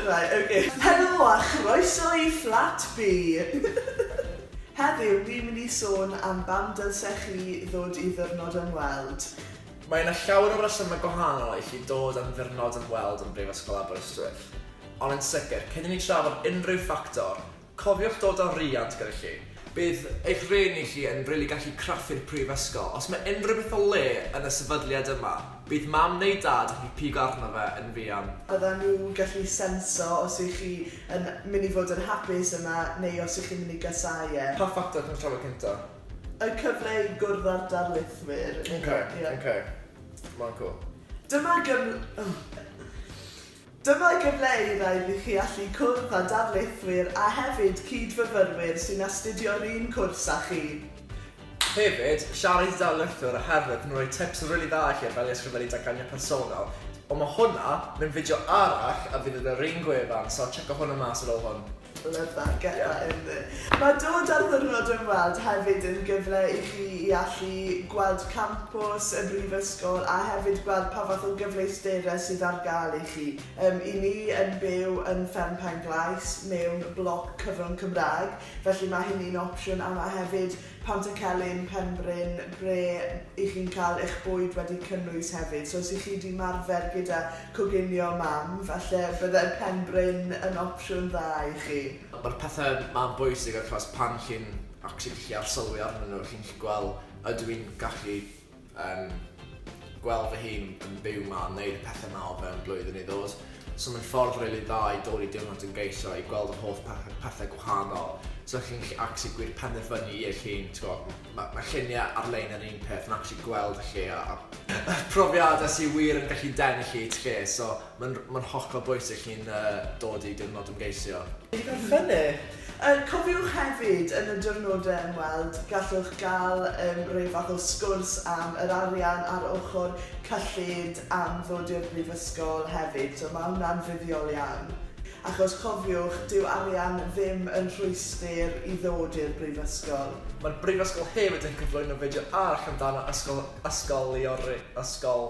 Right, ok. Helo a chroeso i Fflat B! Heddiw, ni'n mynd i sôn am bam dylsech chi ddod i Ddiwrnod Ymweld. Mae yna llawer o resymau gwahanol i chi dod am Ddiwrnod Ymweld yn Brifysgol Aberystwyth. Ond yn sicr, cyn i ni trafod unrhyw ffactor, Cofiwch dod â rhiant gyda chi. Bydd eich rhieni chi yn rili gallu craffu'r prifysgol. Os mae unrhyw beth o le yn y sefydliad yma, bydd mam neu dad yn gallu pigo arno fe yn fuan. Byddan nhw'n gallu senso os ych chi yn mynd i fod yn hapus yma neu os ych chi'n mynd i gasáu e. Pa ffactor chi'n trafod cyntaf? Y cyfle i gwrdd â'r darlithwyr. Ok, ok. Ma'n cwl. Dyma gyfl- oh. Dyma gyfle i rai ni chi allu cwrdd â darlithwyr a hefyd cyd-fyfyrwyr sy'n astudio'r un cwrs â chi. Hefyd, siarad i darlithwr a hefyd yn rhoi tips rili dda i chi ar fel i ysgrifennu datganiad personol. Ond mae hwnna mewn fideo arall a fydd yn yr un gwefan so tsecio hwnna mas ar ôl hwn. Love that, get that in there. Mae dod ar ddiwrnod ymweld hefyd yn gyfle i chi i allu gweld campws y Brifysgol a hefyd gweld pa fath o gyfleusterau sydd ar gael i chi. Yym, 'y ni yn byw yn Fferm Pen-glais, mewn bloc cyfrwng Cymraeg, felly mae hynny'n opsiwn a mae hefyd Pantycelyn, Penbryn, ble i chi'n cael eich bwyd wedi cynnwys hefyd. So os i chi di marfer gyda coginio mam, falle bydde Penbryn yn opsiwn dda i chi. Mae'r pethau ma'n bwysig achos pan chi'n actually gallu arsylwi arnyn nhw, chi'n gallu gweld ydw i'n gallu Yn gweld fy hun yn byw 'ma yn neud y pethe 'ma o fewn blwyddyn neu ddod. So mae'n ffordd rili dda i dod i diwrnod yn geisio i gweld yr holl pethe pethe gwahanol. So chi'n gallu actually gwir penderfynu i eich hun t'go' ma' ma' llunie ar-lein yr un peth ma' actually gweld y lle a a profiade sy wir yn gallu denu chi i'r lle so Mae'n mae'n hollol bwysig i'n yy dod i diwrnod ymgeisio. Digon ffynnu. Yy cofiwch hefyd yn y diwrnodau ymweld gallwch gael yym rhyw fath o sgwrs am yr arian a'r ochr cyllid am ddod i'r brifysgol hefyd so ma' hwnna'n fuddiol iawn achos cofiwch dyw arian ddim yn rhwystr i ddod i'r brifysgol. Mae'r brifysgol hefyd yn cyflwyno fideo arall amdano ysgol ysgoliori ysgol